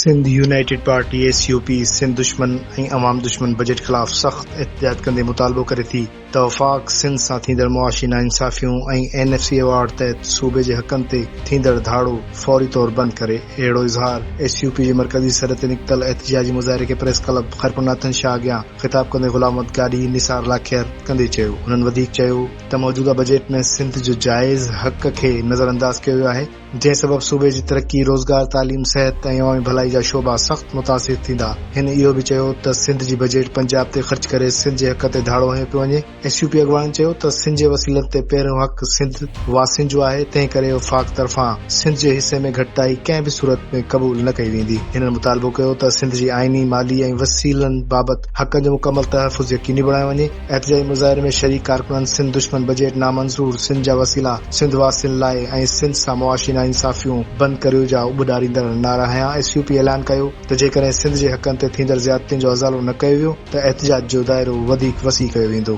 Sindh United Party, S U P, Sindh دشمن ۽ عوام دشمن بجيٽ خلاف سخت احتجاج ڪندي مطالبو ڪري ٿي ته وفاق سنڌ سان ٿيندڙ معاشي ناانصافيون ۽ اين ايف سي ايوارڊ تحت صوبي جي حقن تي ٿيندڙ ڌاڙو فوري طور بند ڪري. اهڙو اظهار ايس يو پي جي مرڪزي سري تي نڪتل احتجاجي مظاهري کي پريس ڪلب خيرپور ناٿن شاهه اڳيان خطاب ڪندي غلام محمد گاڏهي نثار لاکير ڪندي چيو. هنن وڌيڪ چيو ته موجوده بجيٽ ۾ سنڌ جو جائز حق کي نظرانداز ڪيو ويو آهي. جنهن سبب صوبي جي ترقي، روزگار، تعليم، صحت ۽ عوامي ڀلائي جا شعبا سخت متاثر ٿيندا. هن اهو به چيو ته سنڌ جي بجيٽ پنجاب تي خرچ ڪري سنڌ جي حق تي ڌاڙو هنيو پيو وڃي. ايس يو پي اڳواڻن چيو ته سنڌ جي وسيلن تي پهريون حق سنڌ واسين جو آهي، تنهنڪري وفاق طرفان سنڌ جي حصي ۾ گهٽتائي ڪنهن به صورت ۾ قبول نه ڪئي ويندي. هنن مطالبو ڪيو ته سنڌ جي آئيني، مالي ۽ وسيلن بابت حقن جو مڪمل تحفظ يقيني بڻايو وڃي. احتجاجي مظاهري ۾ شريڪ ڪارڪنن سنڌ دشمن بجيٽ نامنظور، سنڌ جا وسيلا سنڌ واسين لاء ۽ سنڌ سان معاشي ناانصافيون بند ڪريو جا اٻھ ڏاريندڙ نعرا هنيا، ايس يو پي اعلان ڪيو ته جيڪڏهن سنڌ جي حقن تي ٿيندڙ زيادتين جو ازالو نه ڪيو ويو ته احتجاج جو دائرو وڌيڪ وسيع ڪيو ويندو.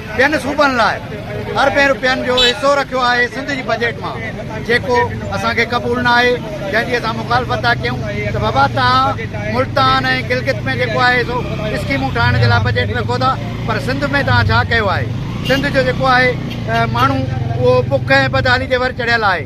ٻين صوبن لاء اربين رپين جو حصو رکيو آهي سنڌ جي بجيٽ مان جيڪو اسان کي قبول نه آهي جنهن جي اسان مخالفت ٿا ڪيون ته بابا توهان ملتان ۽ گلگت ۾ جيڪو آهي سو اسڪيمون ٺاهڻ جي لاء بجيٽ رکو ٿا پر سنڌ ۾ توهان ڇا ڪيو آهي سنڌ جو جيڪو آهي ماڻهو اهو بک ۽ بدحالي جي ور چڙهيل آهي.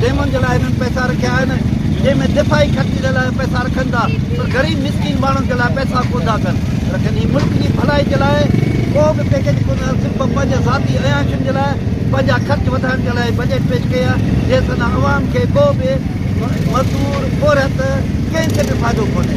ڊيمن جي لاء هنن پئسا رکيا آهن جنهن ۾ دفاعي خرچي جي لاء پئسا رکن ٿا پر غريب مسڪين ماڻهن جي لاء پئسا ڪو نه ڪن رکن هي ملڪ جي ڀلائي جي لاء ڪو به پيڪيج ڪو نه صرف پنهنجي ذاتي عياشين جي لاء پنهنجا خرچ وڌائڻ جي لاء بجيٽ پيش ڪئي آهي جنهن سان نه عوام کي ڪو به مزدور پورهيت ڪنهن کي به فائدو ڪونهي